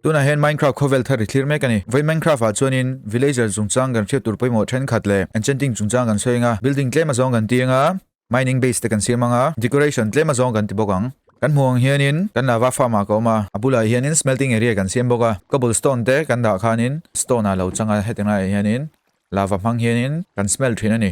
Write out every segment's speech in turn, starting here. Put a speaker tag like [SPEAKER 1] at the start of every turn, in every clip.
[SPEAKER 1] Tunah hian Minecraft khawvel thar i thlir mek a ni. Vawi Minecraft ah chuanin villager chungchang kan hriat tur pawimawh thenkhat leh enchanting chungchang kan sawi eng a, building tlem azawng kan ti eng a, mining base te kan siam ang a, decoration tlem azawng kan ti bawk ang. Kan hmuh ang hianin kan lava farm ah ka awm a, a bulah hianin smelting area kan siam bawk a, cobble stone te kan dah khanin stone ah lo chang a, hetiang laiah hianin lava hmang hianin kan smelt thin a ni.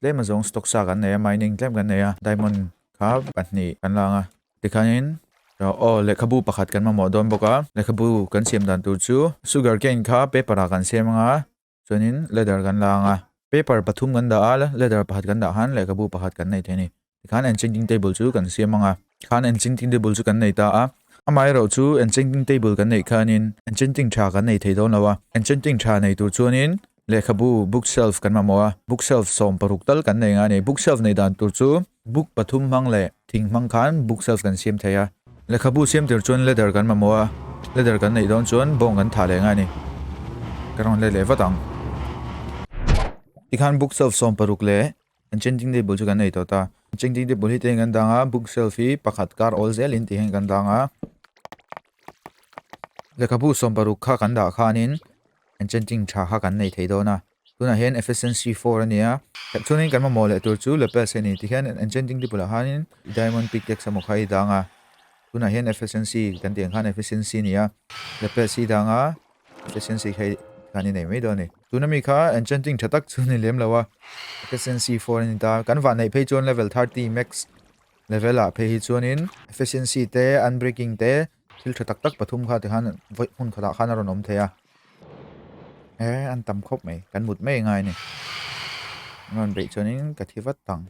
[SPEAKER 1] Tlem a zawng stock sa kan nei a, mining tlem kan nei a, diamond kha pahnih kan la ang a. Tikhanin aw lehkhabu pakhat kan mamawh dawn bawk a, lehkhabu kan siam dan tur chu sugar cane kha paper ah kan siam ang a, chuanin leather kan la ang a, paper pathum kan dah a, leather pakhat kan dah han lehkhabu pakhat kan nei thei a ni. Tikhan enchanging table chu kan siam anga, tikhan enchanging table chu kan nei ta a. Amaherawh chu enchanging table kan neih khanin enchanging tha kan nei thei dawn lo a. Enchanging tha nei tur chuanin lehkhabu bookshelf kan mamawh a, bookshelf sawm paruk tal kan nei nga ni. Bookshelf nei dan tur chu book pathum hmang leh thing hmang khan bookshelf kan siam thei a. Lehkhabu siam tir chuan ladder kan mamawh a, ladder kan neih dawn chuan bawng kan thah leh nga ni. Ka rawn let leh vat ang. Tikhan bookshelf sawm paruk leh An changing table chu kan nei tawh ta. Changing table hi tlaiin kan dang a, book shelf hi pakhat kar awl zel in tih hian kan dang a. Lehkhabu sawm paruk kha kan dah khanin an changing tha kha kan nei thei dawn a. Tunah hian efficiency 4 a nia. Chuanin kan mamawh leh tur chu lapels hi a ni. Tikhian an changing table ah hian diamond pickaxe emaw kha i dang a. Tunah hian efficiency kan tih ang khan efficiency a nia. Lapels hi i dang a, Efficiency hi kan i nei mai dawn ni. Tuna mi kha enchanting tha tak chu ni lem lo a. Efficiency 4 a ni ta. Kan vah neih phei chuan level 30 max level ah phei hi chuanin efficiency te, unbreaking te, thil tha tak tak pathum kha tikhan hmun khatah khan a rawn awm thei a. E an tam khawp mai. Kan mut mai ngai ni. An rawn beih chuanin ka thi vat tang.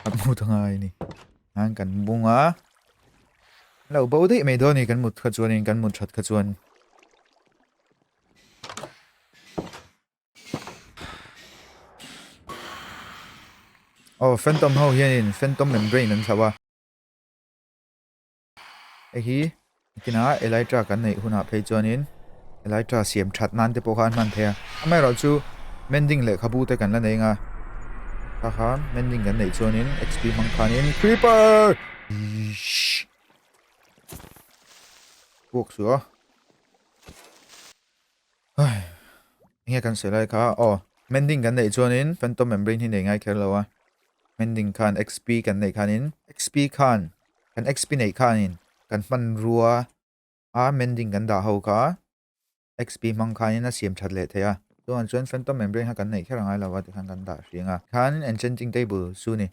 [SPEAKER 1] Kan mut a ngai ni. An kan bung a. Lo bo dei mai dawn ni kan mut kha chuan in kan mut that kha chuan Oh, Phantom ho hian in Phantom membrane an thlauh a. Hei hi kina Elytra kan nei hunah phei chuan in Elytra siam that nan te pawh kha an man thei a. Amai rawh chu mending leh khabu te kan la nei nga. Kha kha mending kan nei chuan in XP hmang khan in Creeper Buk su a Ai Nghe kan se lai kha Oh Mending kan nei chuan in Phantom Membrane hi nei ngai kher lo a Mending khan XP kan nei khan in XP khan Kan XP nei khan in Kan hman rua a Mending kan dah ho kha XP hmang khanin a siam that leh theih a, chungah chuan Phantom and Brain-a kan neih kher a ngai lo a ti khan kan dah hring a. Khan Enchanting Table chu ni.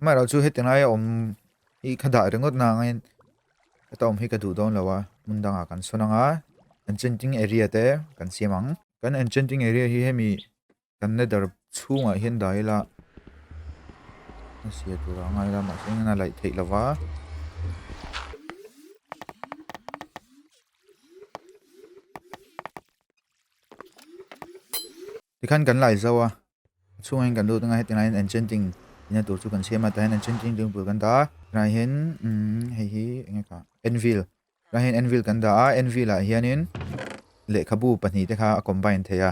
[SPEAKER 1] Amaherawh chu heti ngai a awm hi kha dah ringawt na angin heta awm hi ka duh dawn lo a, hmun dangah kan sawn anga Enchanting Area te kan siam ang. Kan Enchanting Area hi hemi Kan nether chhungah hian dai ila a sia tur a ngai la mahse engin a laih theih lova. Tikhan kan laih zau a chhungah hian kan lut anga heti angin enchanting ina tur chu kan siam a tah enchanting ring bul kan dah a tunah hian hei hi enge ka anvil tunah hian anvil kan dah a anvil ah hianin lehkhabu pahnih te kha a combine thei a.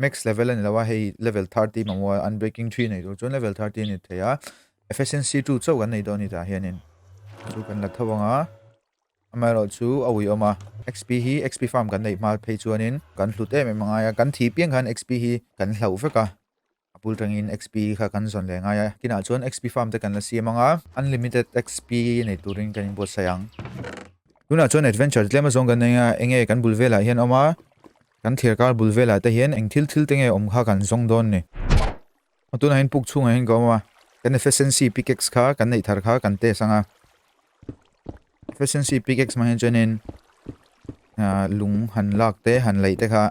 [SPEAKER 1] max level a ni lo a hei level thirty hi mamawh a unbreaking three nei tur chuan level thirty a ni thei a efficiency two chauh kan nei dawn a ni tah hianin chu kan la tho anga amaherawh chu a ui awm a xp hi xp farm kan neih hma phei chuanin kan hlut em em a ngai a kan thi piang khan xp hi kan hlauh vek a a bul tangin xp kha kan zawn leh ngai a kinah chuan xp farm te kan la siam anga unlimited xp nei turin kan inbuatsaih ang tunah chuan adventure tlem azawng kan nei a enge kan bul velah hian a awm a Kan thlir kar bul velah te hian eng thil thil te nge awm kha kan zawng dawn ni. A tunahin puk chhungah hian ka awm a, kan efficiency pickaxe kha kan neih thar kha kan test anga. Efficiency pickaxe mah hian chuan in ah lung han lak te han laih te kha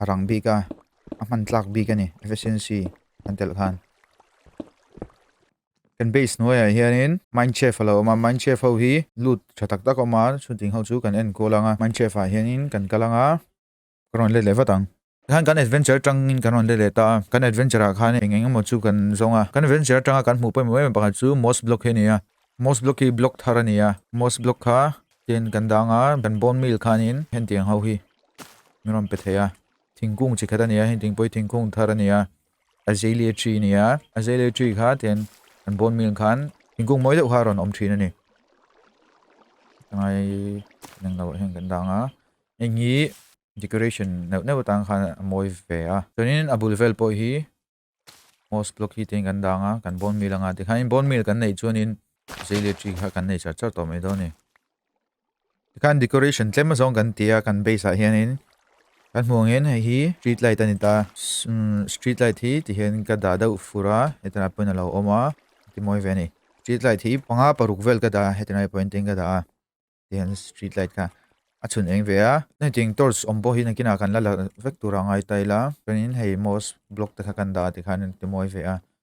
[SPEAKER 1] a rang bik a, a hman tlak bik a ni efficiency kan telh khan. Kan base hnuaiah hianin Mindchef a lo awm a, Mindchef ho hi lut tha tak tak a awm a, chutiang ho chu kan enkual ang a, Mindchef ah hianin kan kal ang a, kan rawn let leh vat ang. Tikhan kan adventure atangin kan rawn let leh ta a, kan adventure ah khan eng eng emaw chu kan zawng a, kan adventure atanga kan hmuh pawimawh em em pakhat chu Moss Block hi a ni a, Moss Block hi block thar a ni a, Moss Block kha ken kan dah ang a, kan bone meal khanin hentiang ho hi min rawn pe thei a, thingkung chi khat a ni a, heng ting pawh hi thingkung thar a ni a, Azalea tree a ni a, azalea tree kha tihian an bone meal khan thingkung mawi deuh kha a rawn awm thin a ni. Tangai inang lamah hian kan dang a, heng hi decoration neuh neuh atang khan a mawi ve a. Chuanin a bul vel pawh hi moss block hi tihian kan dang a, kan bone meal anga, tikhain bone meal kan neih chuanin azalea tree kha kan nei char char tawh mai dawn a ni. Kan decoration tlem azong kan tia kan base ah hianin kan hmuh angin hei hi street light ani ta hmm, street light hi ti hian ka dah deuh fura hetan a pawhin a lo awm a ti mawi ve ni street light hi panga paruk vel ka dah hetan a pawhin tin ka dah a ti hian street light kha a chhun eng ve a nei ting torch awm pawh hi na kina kan la la vek tura ngai taila chuanin hei mouse block te kha kan dah ti khan ti mawi ve a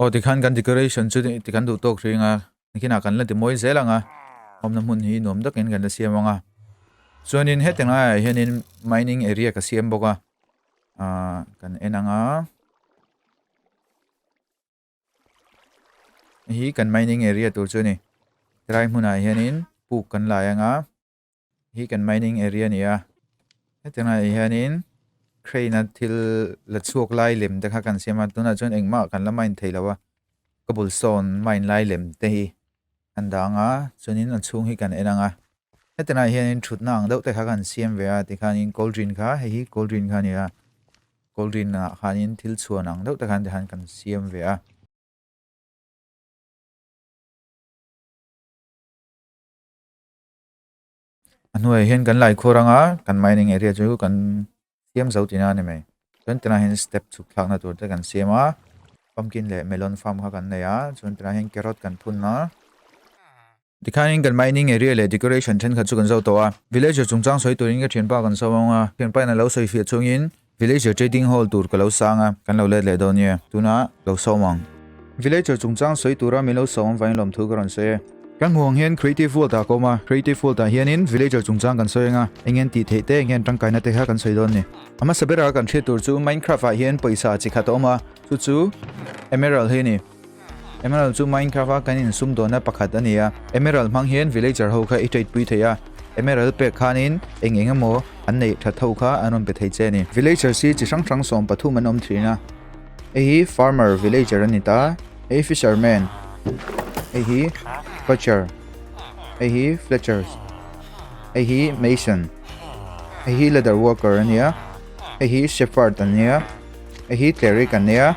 [SPEAKER 1] Aw tikhan kan decoration chu tikhan duh tawk hreng a nikhinah kan la ti mawi zel ang a awmna hmun hi nuam takin kan la siam ang a chuanin heti ngai hianin mining area ka siam bawk a ah kan en ang a hi kan mining area tur chu ni tlai hmunah hianin puk kan lai ang a Hi kan mining area ni a. Heti ngai hi hianin crane a thil la chhuak lai lem te kha kan siam a tunah chuan engmah kan la mine thei lo a cobblestone mine lai lem te hi kan dang a chuanin a chhung hi kan en ang a heti ngai hianin thutna ang deuh te kha kan siam ve a ti khanin cauldron kha hei hi cauldron kha ni a cauldron ah khanin thil chhuan ang deuh te khan te han kan siam ve a A hnuaiah hian kan Laikhuar anga kan mining area chu kan siam zo tihna a ni mai. Chuan tunah hian step chhuk thlakna tur te kan siam a, pumpkin leh melon farm kha kan nei a, chuan tunah hian carrot kan phun a. Tikhain kan mining area leh decoration thenkhat chu kan zau tawh a, villager chungchang sawi turin ka thianpa kan sawi a, thianpa in a lo sawi hriat chungin Villager Trading Hall tur ka lo sang a, kan lo let leh dawn nia, tuna lo sawm ang. Villager chungchang sawi tura min lo sawm vain lawm thu ka rawn sawi a. Kan hmuh ang hian Creative World ah ka awm a, Creative World ah hianin Villager chungchang kan sawi anga, eng nge an tih theih te, eng nge an tangkaina te kha kan sawi dawn ni. A hmasa bera kan hriat tur chu Minecraft ah hian pawisa chi khat a awm a, chu chu Emerald hi a ni. Emerald chu Minecraft a kan in sum dawna pakhat a ni a. Emerald hmang hian villager ho kha i trade pui thei a. Emerald pek khanin eng eng emaw an neih that ho kha an rawn pe thei che a ni. Villagers hi chi hrang hrang sawm pathum an awm thin a. Hei hi farmer villager a ni ta. Hei hi fisherman. Hei hi fletcher. Hei hi fletchers. Hei hi mason. Hei hi leather worker a ni a. Hei hi shepherd an nia. Hei hi cleric an nia.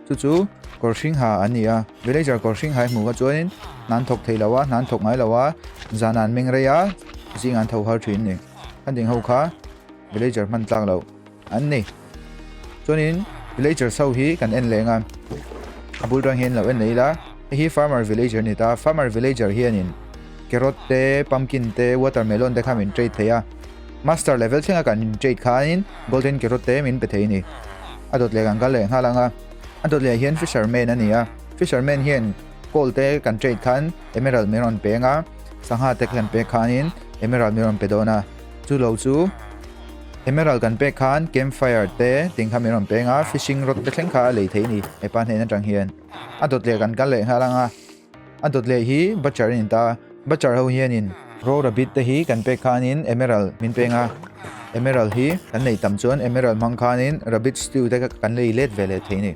[SPEAKER 1] Chu chu kawr hring ha an ni a, Villager kawr hring hai hmuh kha chuanin hnan thawk thei lo a, hnan thawk ngai lo a, zan an meng rei a, zing an tho har thin a ni. An ding ho kha Villager hman tlak lo an ni. Chuanin Villager sau hi kan en leng a, a bul tang hi an lo en leh ila, hei hi Farmer Villager a ni ta, Farmer Villager hianin Carrot te, Pumpkin te, Watermelon te kha min trade thei a, Master level thlenga kan in trade khain golden carrot te min pe thei ni. A dawt leh kan kal leh nghal anga. A dawt leh hian fisherman a ni a. Fisherman hian gold te kan trade khan emerald min rawn peng a. Sangha te kan pek khanin emerald min rawn pe dawn a. Chu lo chu emerald kan pek khan campfire te ting kha min rawn peng a. Fishing rod te thleng kha a lei thei ni hepa hnen atang hian. A dawt leh kan kal leh nghal anga. A dawt leh hi Butcher in ta a, Butcher ho hian in. Raw Rabbit te hi kan pek khan in Emerald min peng a, Emerald hi kan nei tam chuan Emerald hmang khan in Rabbit Stew te kan lei let ve leh thei ni.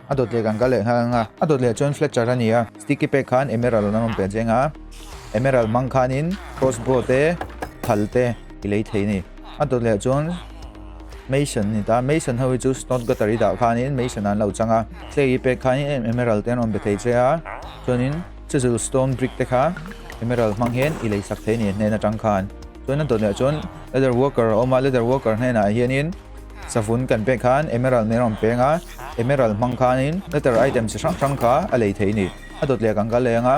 [SPEAKER 1] A dawt leh kan kal leh khan anga, a dawt leh chuan Fletcher a ni a, Sticky pek khan Emerald an rawn pet zeng a, Emerald hmang khan in Crossbow te, Thal te i lei thei ni. a dawt leh chuan mason ni ta mason ho hi chu stone gutter i dah khan in mason an lo chang a clay i pek khan in emerald te an rawn be thei che a chuan in chisel stone brick te kha emerald hmang hian i lei sak thei ni hnen a chang khan chuan a dawt leh chuan leather worker a awm a leather worker hnen ah hian in savun kan pek khan emerald min rawn peng a emerald hmang khan in leather item chi hrang hrang kha a lei thei ni a dawt leh kan kal leh ang a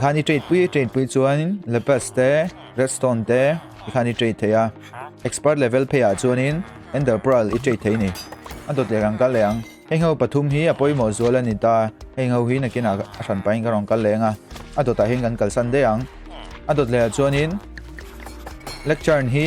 [SPEAKER 1] khani trade pui trade pui chuan in lepes te redstone te khani trade theya expert level phe a chuan in ender pearl i trade thei ni a dot le rang kal le ang hei ho pathum hi apoi mo zual ani ta hei ho hi nakina a hran pain ka rong kal le nga a dot a hin kan kalsan de ang a dot le a chuan in lecture hi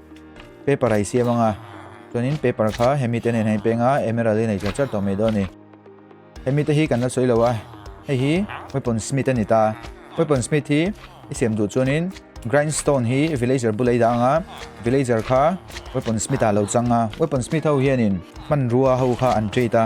[SPEAKER 1] paper ai siam anga chuanin paper kha hemi te nen hain penga emerald in ei char tawh mai dawn ni hemi te hi kan la sawi lo a hei hi weapon smith ani ta weapon smith hi i siam duh chuanin grindstone hi villager bulai da anga villager kha weapon smith a lo changa weapon smith ho hianin hmanrua ho kha an treat a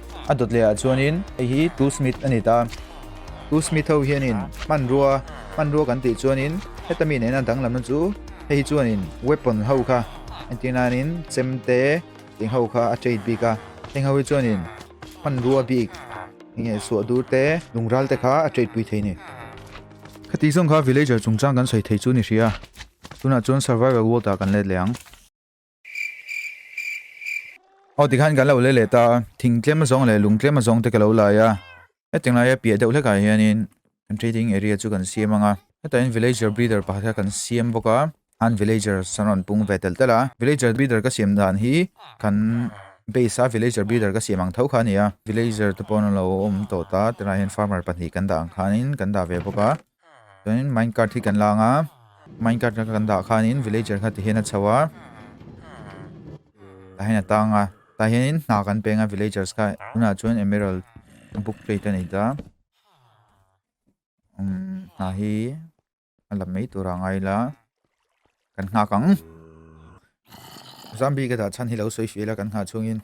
[SPEAKER 1] A Dudleyah chuanin, Hei hi Tu Smith a ni ta. Tu Smith ho hianin, Hmanrua, hmanrua kan tih chuanin, heta mi nena danglamna chu hei chuanin weapon ho kha, entir nain chem te tih ho kha a trade bik a. Heng ho hi chuanin hmanrua bik, eng nge suah dur te, lungral te kha a trade pui thei ni. Khati zawng kha villager chungchang kan sawi thei chu ni hria. Tunah chuan survival world ah kan let leh ang. Aw tikhan kan lo le le ta thing tlema zawng le lung tlema zawng te ka lo lai a hetiang laia piah deuh hlekah hianin kan trading area chu kan siam anga hetahin villager breeder pakhat kha kan siam bawk a han villager san rawn pung ve tel tel a villager breeder ka siam dan hi kan base a villager breeder ka siam ang tho kha a ni a villager te pawh an lo awm tawh ta tunah hian farmer pahnih kan dah ang khanin kan dah ve bawk a Chuanin mine cart hi kan la ang a, mine cart kha kan dah khanin villager kha tihian a chho a. Tah hian a tang a, tah hianin hna kan peng a villagers kha, tunah chuan emerald book plate a nei ta. Um, hna hi a la mai tura ngai la, kan nghak ang. Zombie ka dah chhan hi lo sawi fiah ila kan nghah chungin.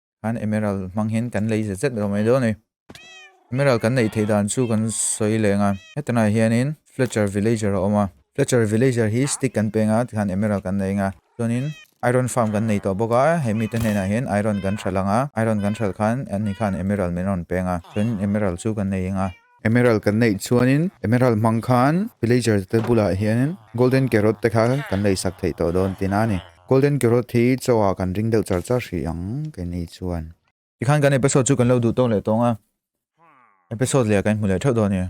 [SPEAKER 1] An Emerald hmang hian kan lei zet zet lo mai dawn a ni. Emerald kan neih theih dan chu kan sawi leng a. Hetilaiah hianin Fletcher Villager a awm a. Fletcher Villager hi Stick kan peng a, tikhan Emerald kan nei ang a. Chuanin Iron Farm kan nei tawh bawk a, he mite hnenah hian Iron kan hralh ang a, Iron kan hralh khan, an ni khan Emerald min rawn peng a, chuanin Emerald chu kan nei ang a. Emerald kan neih chuanin Emerald hmang khan Villager te bulah hianin Golden Carrot te kha kan lei sak theih tawh dawn tiin a ni. Golden Carrot hi chaw ah kan ring deuh char char hrih ang kei ni chuan. Tikhan kan episode chu kan lo duh tawk leh tawng a, episode leh ah kan hmu leh theuh dawn a ni.